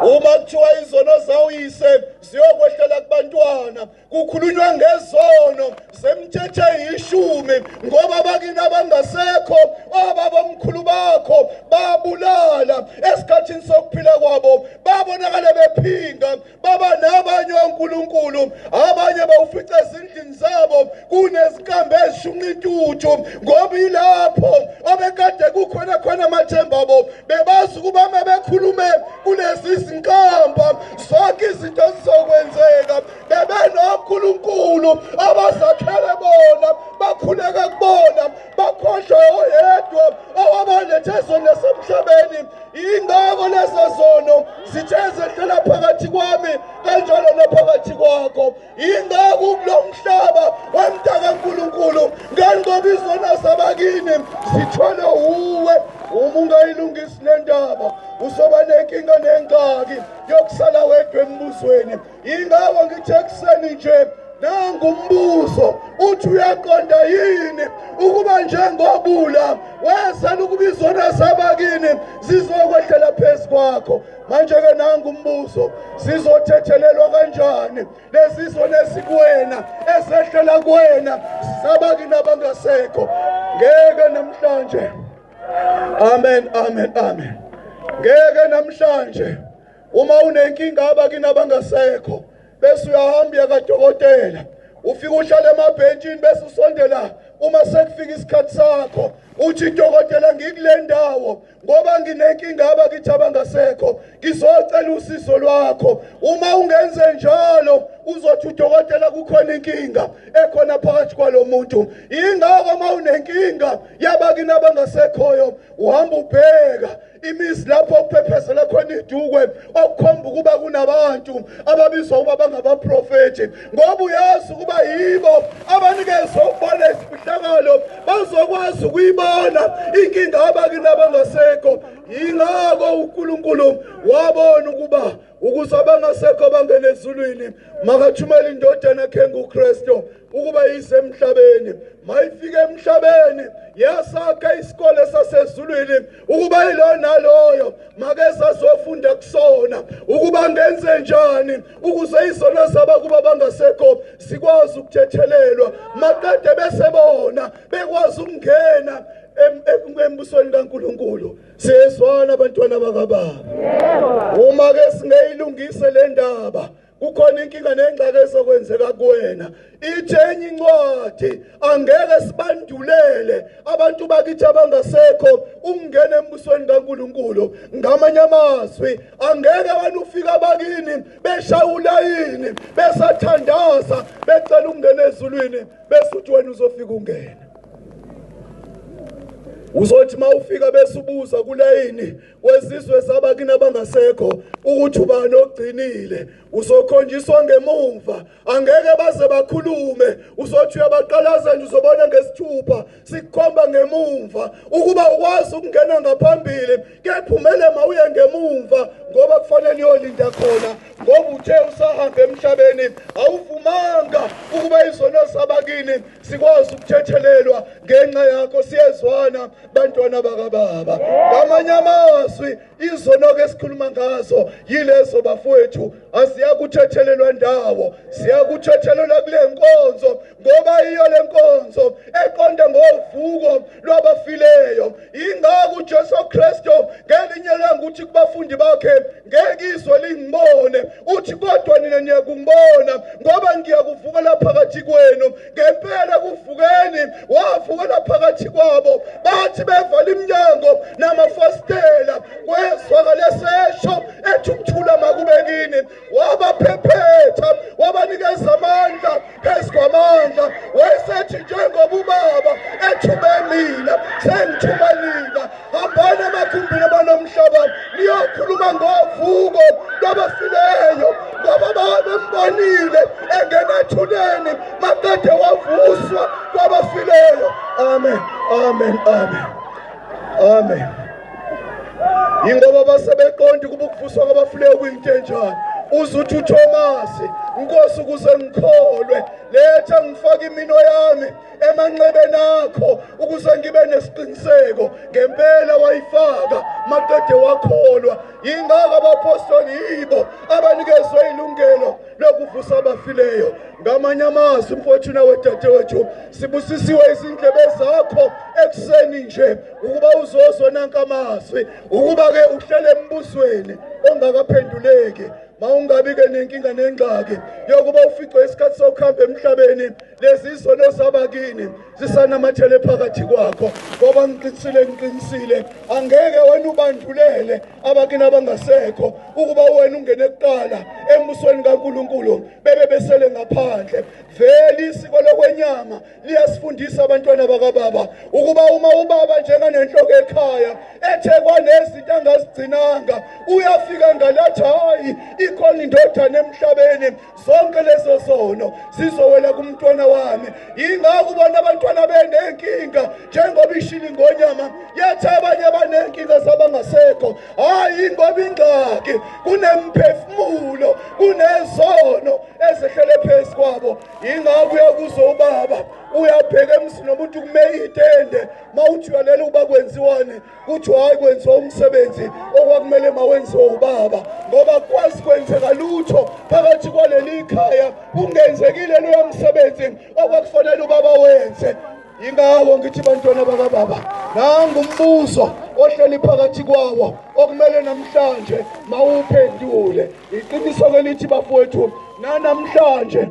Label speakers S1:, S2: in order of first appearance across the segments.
S1: uma kuthiwa izono zawuyise ziyokwehlela kubantwana kukhulunywa ngezono zemthethe yishumi ngoba abakini abangasekho obabomkhulu bakho babulala esikhathini sokuphila kwabo babonakale bephinga baba nabanye onkulunkulu abanye bawufica ezindlini zabo kunezikambe ezishunqa intuthu ngoba ilapho obekade kukhona khona amathemba abo bebazi ukuba uma bekhulume kulezi zinkamba zonke izinto zizokwenzeka bebenonkulunkulu abazakhele bona bakhuleke kubona bakhohlwe oyedwa owabalethe zona semhlabeni yingako lezo zono zithe zehlela phakathi kwami kanjalo naphakathi kwakho ingaku kulo mhlaba wemntaka nkulunkulu ngani ngoba izona zabakini zithole uwe uma ungayilungisi le ndaba uzoba nenkinga nengxaki yokusala wedwa embuzweni yingako ngithe ekuseni nje nangumbuzo uthi uyaqonda yini ukuba njengobula wezela ukuba izona zabakini zizokwehlela phezu kwakho manje-ke nangu umbuzo sizothethelelwa kanjani lesiso nesikuwena esehlela kuwena sabakini abangasekho ngeke namhlanje amen amen amen ngeke namhlanje uma unenkinga abakini abangasekho bese uyahamba uya kadokotela ufike uhlale emabhentshini bese usondela uma sekufika isikhathi sakho uthi dokotela ngikule ndawo ngoba nginenkinga abakithi abangasekho ngizocela usizo lwakho uma ungenze njalo uzothi udokotela kukhona inkinga ekhona phakathi kwalo muntu yingakho uma unenkinga yabakini abangasekhoyo uhamba ubheka imizi lapho kuphephezela khona idukwe okukhomba ukuba kunabantu ababizwa ukuba bangabaprofethi ngoba uyazi ukuba yibo abanikezwe ukubona isifihlakalo bazokwazi ukuyibona inkinga abakini abangasekho yingako unkulunkulu wabona ukuba ukuze abangasekho bangene ezulwini makathumele indodana yakhe ngukristu ukuba isemhlabeni mayifike emhlabeni yasakha isikole sasezulwini ukuba yilo naloyo makezazofunda kusona ukuba ngenze njani ukuze izono zaba kuba bangasekho sikwazi ukuthethelelwa maqede bese bona bekwazi ukungena embusweni kaNkuluNkulu siyezwana abantwana bakababa uma ke singeyilungise le ndaba kukhona inkinga nengxaki ezokwenzeka kuwena ithe enye incwadi angeke sibandulele abantu bakithi abangasekho ukungena embusweni kaNkuluNkulu ngamanye amazwi angeke wena ufika bakini beshawula yini besathandaza becela ukungena ezulwini bese uthi wena uzofika ungena uzothi mawufika bese ubuza kulayini wesizwe sabakini abangasekho ukuthi ubani ogcinile usokhonjiswa ngemumva angeke baze bakhulume usothi uyabaqalaza nje uzobona ngesithupha sikukhomba ngemumva ukuba ukwazi ukungena ngaphambili kephumele mawuye ngemumva ngoba kufanele uyolinda khona ngoba uthe usahamba emhlabeni awuvumanga ukuba izono sabakini sikwazi ukuthethelelwa ngenxa yakho siyezwana bantwana bakababa ngamanye amazwi izonoke esikhuluma ngazo yilezo bafowethu asiyakuthethelelwa ndawo siyakuthethelelwa kule nkonzo ngoba iyo le nkonzo eqonde ngovuko lwabafileyo ingako ujesu kristu ngelinye langokuthi kubafundi bakhe ngeke izwe lingibone uthi kodwa nina niyakungibona ngoba ngiyakuvukela phakathi kwenu ngempela kuvukeni wavukela phakathi kwabo bathi bevala iminyango namafasitela kwezwakale sesho ethi ukuthula makube kini wabaphephetha wabanikeza amandla phezu kwamandla wayesethi njengoba ubaba ethume mina sengithuma nina hambani emagumbini abanomhlabani niyokhuluma ngovuko lwabafileyo ngoba babembonile engena ethuneni makade wavuswa kwabafileyo amen amen amen amen yingoba basebeqondi kuba ukuvuswa kwabafuleyo kuyintenjana uze uthi uthomasi nkosi ukuze ngikholwe letha ngifake imino yami emanxebeni akho ukuze ngibe nesiqiniseko ngempela wayifaka maqede wakholwa yingaka abapostoli yibo abanikezwe ilungelo lokuvusa abafileyo ngamanye amazwi mfowethu nawe dadewethu sibusisiwe izindlebe zakho ekuseni nje ukuba uzoso nanka amazwi ukuba-ke uhlele embusweni ongakaphenduleki mawungabi-ke nenkinga nengxaki yokuba uficwe isikhathi sokuhamba emhlabeni lezi izono zabakini zisanamathele phakathi kwakho ngoba ngiqinisile ngiqinisile angeke wena ubandulele abakini abangasekho ukuba wena ungene kuqala embusweni kankulunkulu bebe besele ngaphandle vele isiko lokwenyama liyasifundisa abantwana bakababa ukuba uma ubaba njenganenhloko ekhaya ethe kwanezinto angazigcinanga uyafika ngalathi hhayi ikhona indodana emhlabeni zonke lezo zono zizowela kumntwana wami yingakho ubona abantwana benenkinga njengoba ishili ngonyama yathi abanye banenkinga zabangasekho hhayi ngoba ingxaki kunemphefumulo kunezono ezehlele phezu kwabo yingakho uyakuzo ubaba uyabheka emsini nomuntu kume itende uma uthi uyalela ukuba kwenziwani kuthiwa hhayi kwenziwa umsebenzi okwakumele mawenziwe ubaba ngoba kwazi kwenzeka lutho phakathi kwaleli khaya kungenzekile loya msebenzi okwakufanele ubaba wenze yingawo ngithi bantwana bakababa nangu umbuzo ohleli phakathi kwawo okumele namhlanje mawuphendule iqiniso kelithi bafowethu nanamhlanje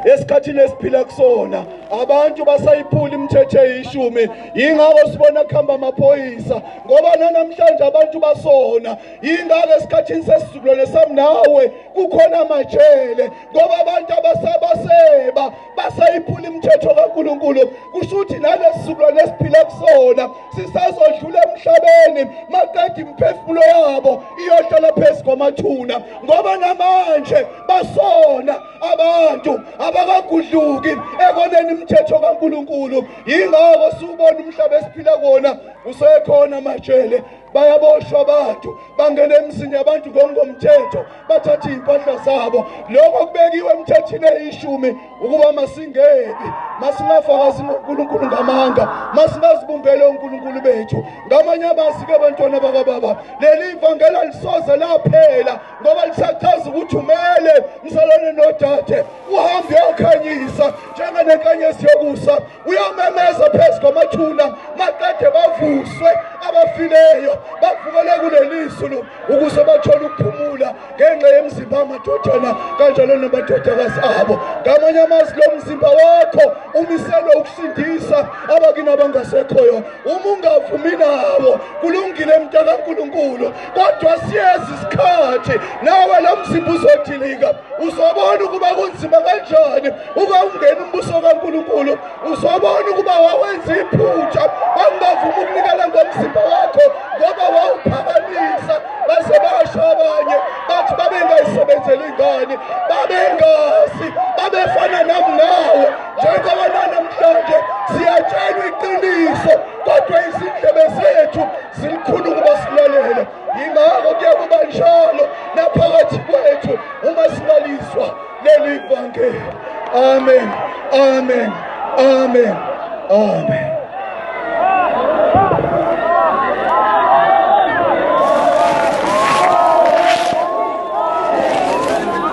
S1: esikhathini esiphila kusona abantu basayiphula imithetho eyishumi yingakho sibona kuhamba amaphoyisa ngoba nanamhlanje abantu basona yingakho esikhathini sesizukulwane sami nawe kukhona amajele ngoba abantu abasabaseba basayiphula imithetho kaNkulunkulu kusho ukuthi nalesi sizukulwane esiphila kusona sisazodlula emhlabeni maqeda imiphefumulo yabo iyohlala phezu kwamathuna ngoba namanje basona abantu abakagudluki ekoneni imithetho kaNkulunkulu yingakho siwubona umhlaba esiphila kuwona usekhona majele bayaboshwa abantu bangena emzini yabantu ngokungokomthetho bathatha iy'mpahla zabo lokho kubekiwe emthethini eyishumi ukuba masingebi masingafakazi ngonkulunkulu ngamanga masingazibumbele onkulunkulu bethu ngamanye amazike abantwana bakababa leli ivangela lisoze laphela ngoba lisachaza ukuthi umele mzalwane nodade uhambe uyokhanyisa njenganenkanyezi yokusa uyamemeza phezu kwamathuna maqede bavuswe abafileyo bavukele kuleli zulu ukuze bathole ukuphumula ngenxa yemzimba amadodana kanjalo namadodakazi abo ngamanye amazi lo mzimba wakho umiselwe ukusindisa abakini abangasekhoyo uma ungavumi nawo kulungile mntakankulunkulu kodwa siyeza isikhathi nawe lo mzimba uzodilika uzobona ukuba kunzima kanjani uba ungena umbuso kankulunkulu uzobona ukuba wawenza iphutha wangavuma ukunikela ngomzimba wakho ngoba wawuphakamisa base basho abanye bathi babengayisebenzeli ingane babengazi babefana nam nawe njengoba nanamhlanje siyatshelwa iqiniso kodwa izindlebe zethu zilikhulu ukuba silalele yingakho kuye kuba njalo naphakathi kwethu uma sibaliswa leli vangeli amen amen amen amen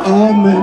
S1: Amen.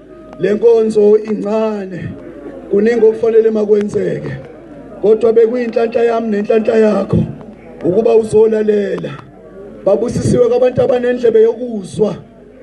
S1: lenkonzo incane kuningi okufanele makwenzeke kodwa bekuyinhlanhla yami nenhlanhla yakho ukuba uzolalela babusisiwe kwabantu abanendlebe yokuzwa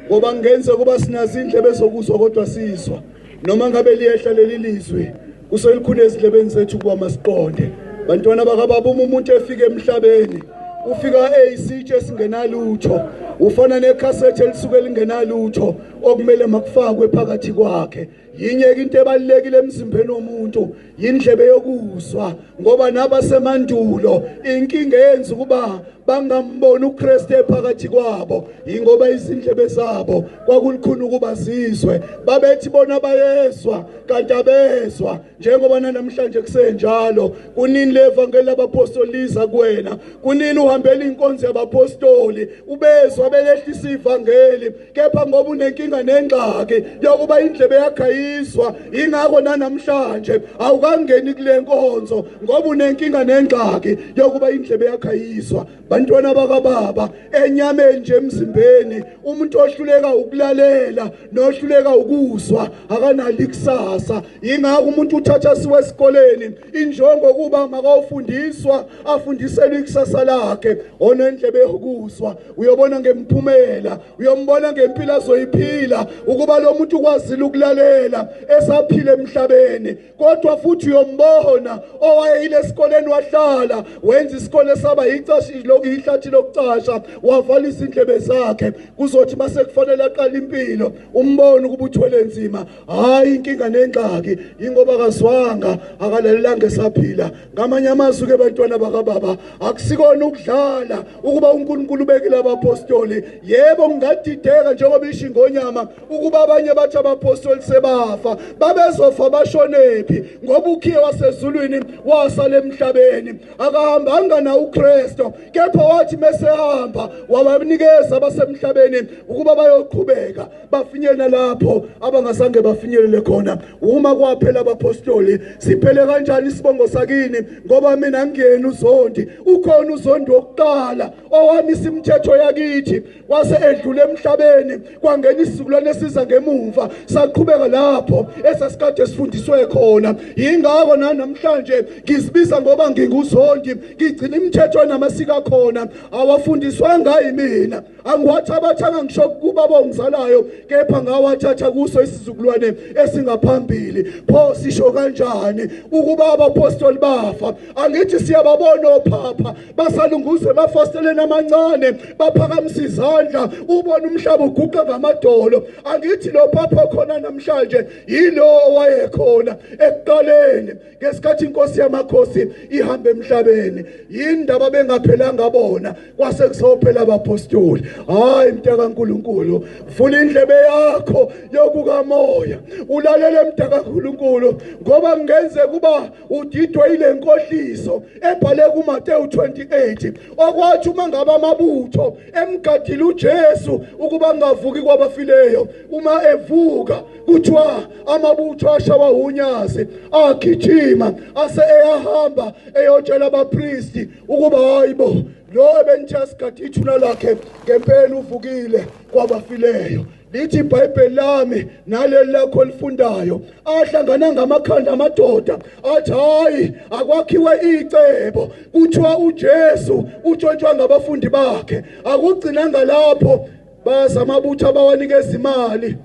S1: ngoba ngenze kuba sinazindlebe zokuzwa kodwa sizwa noma ngabe liyehla leli lizwi Kuselukhulu ezidlebeni zethu ukuba masiqonde bantwana bakababa uma umuntu efika emhlabeni ufika eyisitshe esingenalutho ufana nekhasethi elisuke lingenalutho okumele makufakwe phakathi kwakhe yinyeke into ebalekile emzimbeni womuntu yindlebe yokuzwa ngoba nabasemandulo inkinga yenza ukuba bangamboni uKristu ephakathi kwabo ingoba izindlebe zabo kwakulikhulu ukuba zizwe babethi bona bayezwa kanti abezwa njengoba nanamhlanje kusenjalo kunini levangeli labapostoli liza kuwena kunini uhambela inkonzo yabapostoli ubezwa belehlisa ivangeli kepha ngoba unenkinga nengxaki yokuba indlebe yakhe ayizwa ingakho nanamhlanje awukangeni kule nkonzo ngoba unenkinga nengxaki yokuba indlebe yakhe ayizwa bantwana bakababa enyameni nje emzimbeni umuntu ohluleka ukulalela nohluleka ukuzwa akanali kusasa ingakho umuntu uthatha siwe esikoleni injongo kuba makawufundiswa afundiselwe ikusasa lakhe onendlebe yokuzwa uyobona ngemphumela uyombona ngempilo azoyiphila ukuba lo muntu ukwazile ukulalela esaphila emhlabeni kodwa futhi uyombona owayeyile esikoleni wahlala wenza isikole saba yicashi lokhu yihlathi lokucasha wavalisa indlebe zakhe kuzothi mase kufanele aqala impilo umbone ukuba uthwele nzima hayi inkinga nengxaki ingoba kazwanga akalalelanga esaphila ngamanye amazwi ke bantwana bakababa akusikona ukudlala ukuba uNkulunkulu ubekile abapostoli yebo ngingadideka njengoba ishingonyama ukuba abanye bathi abapostoli sebafa babezofa bashonephi ngoba ukhiye wasezulwini wasala emhlabeni akahambanga na uKristu kepha wathi mesehamba wabanikeza abasemhlabeni ukuba bayoqhubeka bafinyela lapho abangasange bafinyelele khona uma kwaphela abapostoli siphele kanjani isibongo sakini ngoba mina ngiyena uzondi ukhona uzondi wokuqala owami simthetho yakithi wase edlula emhlabeni kwangena isizukulwane esiza ngemumva saqhubeka lapho esasikade sifundiswe khona yingakho nanamhlanje ngizibiza ngoba nginguzondi ngigcina imithetho namasiko akhona awafundiswanga yimina angiwathabathanga ngisho kuba bongizalayo kepha ngawathatha kuso isizukulwane esingaphambili pho sisho kanjani ukuba abapostoli bafa angithi siyababona ophapha basalunguza emafasteleni amancane baphakamisa izandla ubona umhlaba uguqa ngamadolo angithi lo phapha khona namhlanje yilo owayekhona ekuqaleni ngesikhathi inkosi yamakhosi ihamba emhlabeni yindaba bengaphelanga bona kwase kusophela abapostoli hayi mntaka nkulunkulu vula indlebe yakho yokukamoya ulalele mntaka nkulunkulu ngoba kungenzeka uba udidwe yile nkohliso ebhale kuMateyu 28 okwathi uma ngabe amabutho emgadile uJesu ukuba ngavuki kwabafileyo uma evuka kuthiwa amabutho ashawa unyazi agijima ase eyahamba eyotshela abapristi ukuba hayibo lo ebenithe asigade ithuna lakhe ngempela uvukile kwabafileyo lithi ibhayibheli lami naleli lakho elifundayo ahlangana ngamakhanda amadoda athi hayi akwakhiwe icebo kuthiwa uJesu utshontshwa ngabafundi bakhe akugcinanga lapho baza amabutho abawanikeza imali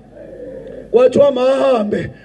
S1: kwathiwa mahambe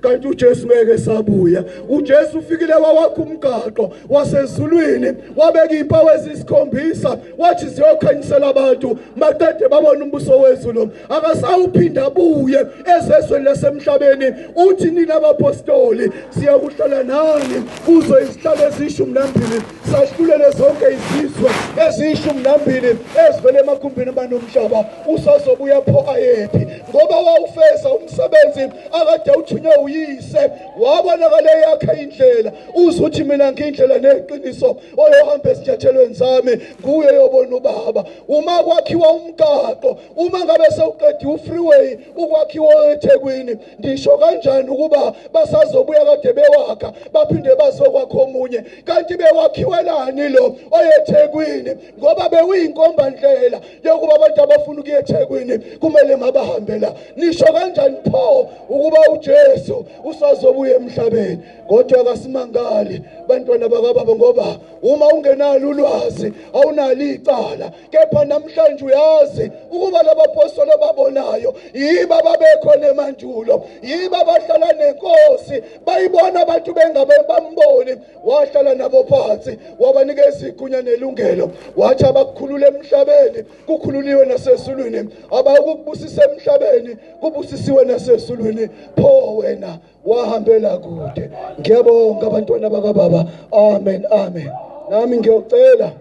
S1: kanti uJesu ngeke sabuya uJesu ufikile wawakha umgaqo wasezulwini wabeka impawu ezisikhombisa wathi ziyokhanyisela abantu maqede babona umbuso wezulu akasawuphinda buye ezezweni lasemhlabeni uthi nina bapostoli siyakuhlala nani kuzo izihlalo ezishumi nambili Sahlulele zonke izizwe eziyishumi nambili ezivele emakhumbini abanomhlaba usazobuya pho ayephi ngoba wawufeza umsebenzi akade uthunywe uyise wabonakala eyakhe indlela uze uthi mina ngiyindlela neqiniso oyohamba ezinyathelweni zami nguye yobona ubaba uma kwakhiwa umgaqo uma ngabe sewuqediwe ufreeway ukwakhiwa ethekwini ngisho kanjani ukuba basazobuya kade bewakha baphinde bazokwakha omunye kanti bewakhiwelani lo oyethekwini ngoba bewuyinkombandlela yokuba abantu abafuna ukuya ethekwini kumele mabahambe la nisho kanjani pho ukuba ujesu usazobuya emhlabeni kodwa kasimangali bantwana bakababa ngoba uma ungenalo ulwazi awunalo icala kepha namhlanje uyazi ukuba labapostoli ababonayo yiba babekhona emandulo yiba bahlala nenkosi bayibona abantu bengabe bamboni wahlala nabo phansi wabanikeza igunya nelungelo wathi abakukhulula emhlabeni kukhululiwe nasezulwini abakukubusisa emhlabeni kubusisiwe nasezulwini pho wena wahambela kude ngiyabonga abantwana bakababa amen amen nami ngiyocela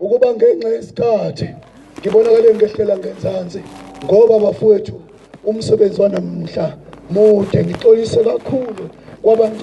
S1: ukuba ngenxa yesikhathi ngibonakale ngehlela ngenzansi ngoba bafowethu umsebenzi wanamhla mude ngixolise kakhulu kwabantu